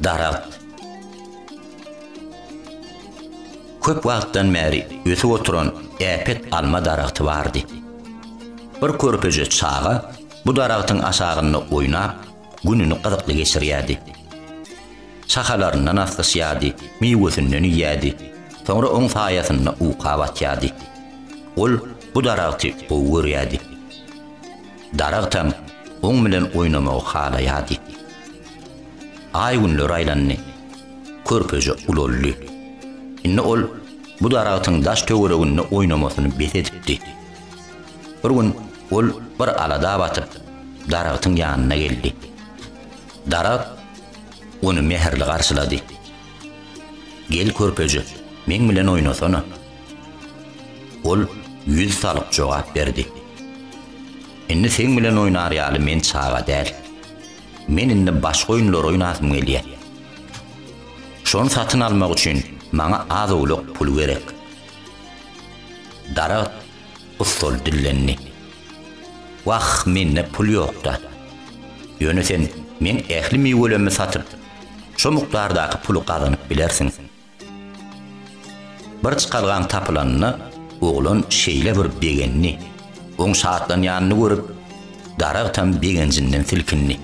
Daragt. Köp wagtdan bäri ösüp oturan äpet alma daragty bardy. Bir körpeje çaga bu daragtyň aşagynda oýnap, gününi gyzykly geçirýärdi. Şahalaryndan aslyşýardy, miwesinden iýýärdi, soňra oň saýasynda uka batýardy. Ol bu daragty gowy görýärdi. daragtam oň bilen oýnamagy halaýardy. Aý-günler aýlandy. Körpeje ulaldy. Indi ol bu daragtyň daş-töwereginde oýnamasyny bes edipdi. Bir gün ol bir alada batyp, daragtyň ýanyna geldi. Daragt ony mähirli garşylady. Gel, körpeje, meň bilen oýnasana. Ol ýüz salyp jogap berdi. Indi seň bilen oýnar ýaly men çaga däl. Men indi başga oýunlar oýnasym gelýär. Şony satyn almak üçin maňa az-owlak pul gerek. Daragt ussal dillendi. Wah, mende pul ýok-da. Ýöne sen meň ähli miwelerimi satyp, şo mukdardaky puly gazanyp bilersiň. Bir çykalgaň tapylanyna oglan şeýle bir begendi, oň şatlanýanyny görüp, daragtam begenjinden silkindi.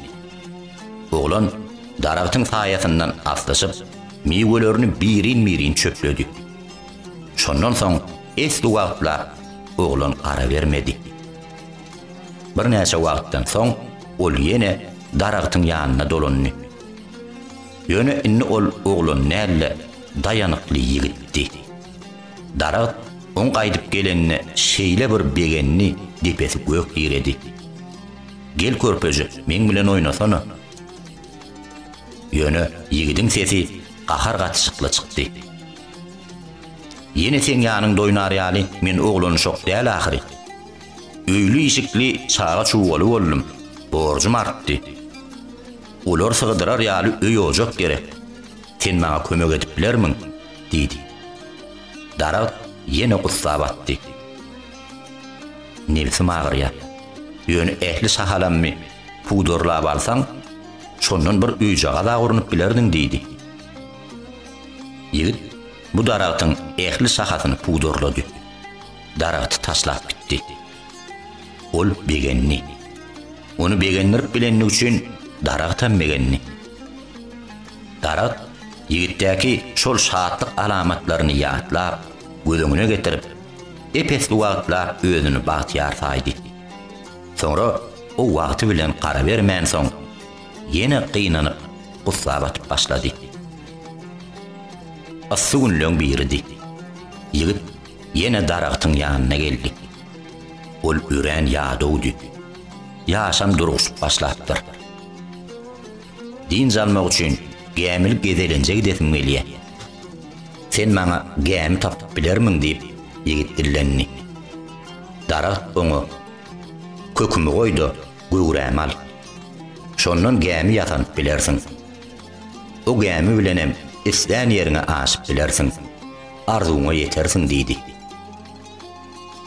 Oglan daragtyň saýasyndan aslyşyp, miwelerini birin-birin çöpledi. Şondan soň esli wagtlap oglan gara bermedi. Birnäçe wagtdan soň ol ýene daragtyň ýanyna dolandy. Ýöne indi ol oglan däl-de, daýanykly ýigitdi. Daragt oň gaýdyp gelenine şeýle bir begendi, depesi gök ýeredi. Gel, körpejik, meň bilen oýnasana! Ýöne ýigidiň sesi gahar gatyşykly çykdy. Ýene seň ýanyňda oýnar ýaly men oglanşok däl ahyry. Öýli-işikli çaga-çugaly boldum, borjum artdy. Olar sygdyrar ýaly öý-ojak gerek. Sen maňa kömek edip bilermiň? diýdi. Daragt ýene gussa batdy. Nebsim agyrýar. Ýöne ähli şahalammy pudurlap alsaň, şondan bir öýjagaz-a urnup bilerdiň, diýdi. Ýigit bu daragtyň ähli şahasyny pudurlady. Daragty taşlap gitdi. Ol begendi. Ony begendirip bilenligi üçin daragtam begendi. Daragt ýigitdäki şol şatlyk alamatlaryny ýatlap, göz öňüne getirip, ep-esli wagtlap özüni bagtyýar saýdy. Soňra o wagty bilen garabermänsoň, ýene gynanyp, gussa batyp başlady. Yssy günleň biridi. Ýigit Ýene daragtyň ýanyna geldik. Ol örän ýadawdy. Ýaşam durguşyp başlapdyr. Dynç almak üçin gämili gezelenje gidesim gelýär. Sen maňa gämi tapyp bilermiň? diýip, ýigit dillendi. Daragt oňa, Kökümi goý-da, göwrämi al. Şondan gämi ýasanyp bilersiň. O gämi bilenem islän ýeriňe aşyp bilersiň. arzuwyňa ýetersiň diýdi.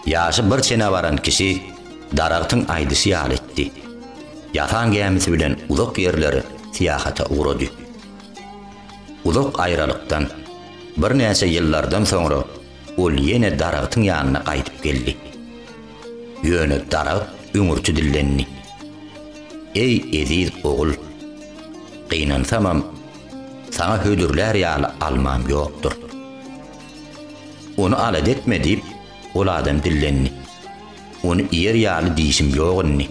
Ýaşy bir çene baran kişi daragtyň aýdyşy ýaly etdi. Ýasan gämisi bilen uzak ýerlere syýahata ugrady. Uzak aýralykdan, birnäçe ýyllardan soňra ol ýene daragtyň ýanyna gaýdyp geldi. Ýöne daragt öňürti dillendi. Eý, eziz ogul! Gynansamam, Saňa hödürlär ýaly almam ýokdur. Ony alada etme, diýip, ol adam dillendi. Ony iýer ýaly dişim ýok indi.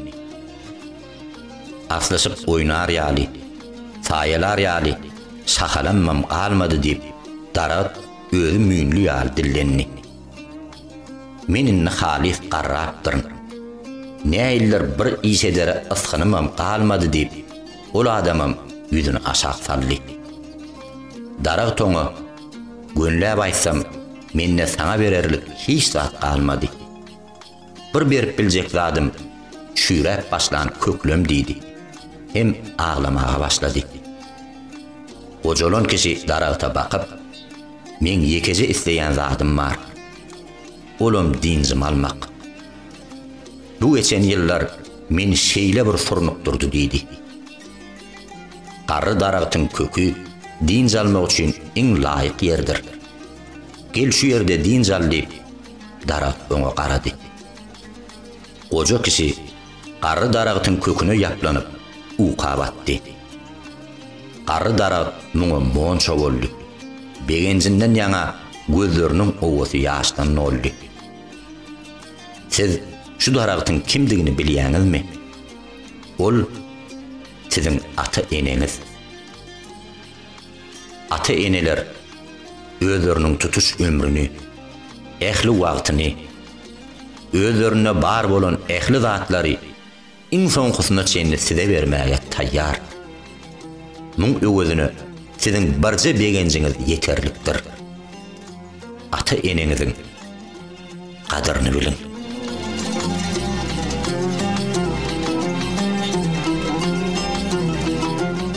Aslyşyp oýnar ýaly, saýalar ýaly şahalamam galmady, diýip, daragt özi müýnli ýaly dillendi. Men indi halys garrapdyryn. Näiller bir iş edere ysgynymam galmady, diýip, Ol adamam ýüzüni aşak saldy. Daragt oňa, Gönläp aýtsam, mende saňa bererlik hiç zat galmady. Bir berip biljek zadym çüýräp başlan köklem diýdi. Hem aglamaga başlady. Gojalan kişi daragta bakyp, Meň ýekeje isleýän zadym bar. Olam dynjymy almak. Bu geçen ýyllar meni şeýle bir surnukdyrdy diýdi. Garry daragtyň köki dynç almak üçin iň laýyk ýerdir. Gel şu ýerde dynç al diýip, daragt oňa garady. Goja kişi garry daragtyň köküne ýaplanyp, uka batdy. Garry daragt muňa monça boldy. Begenjinden ýaňa gözleriniň owasy ýaşdan doldy. Siz şu daragtyň kimdigini bilýäňizmi? Ol siziň ata-eneňiz. Ata-eneler özleriniň tutuş ömrüni, ähli wagtyny, özlerinde bar bolan ähli zatlary, iň soňkusyna çenli size bermäge taýýar. Muň öwezine siziň birje begenjiňiz ýeterlikdir. Ata-eneňiziň gadyryny biliň.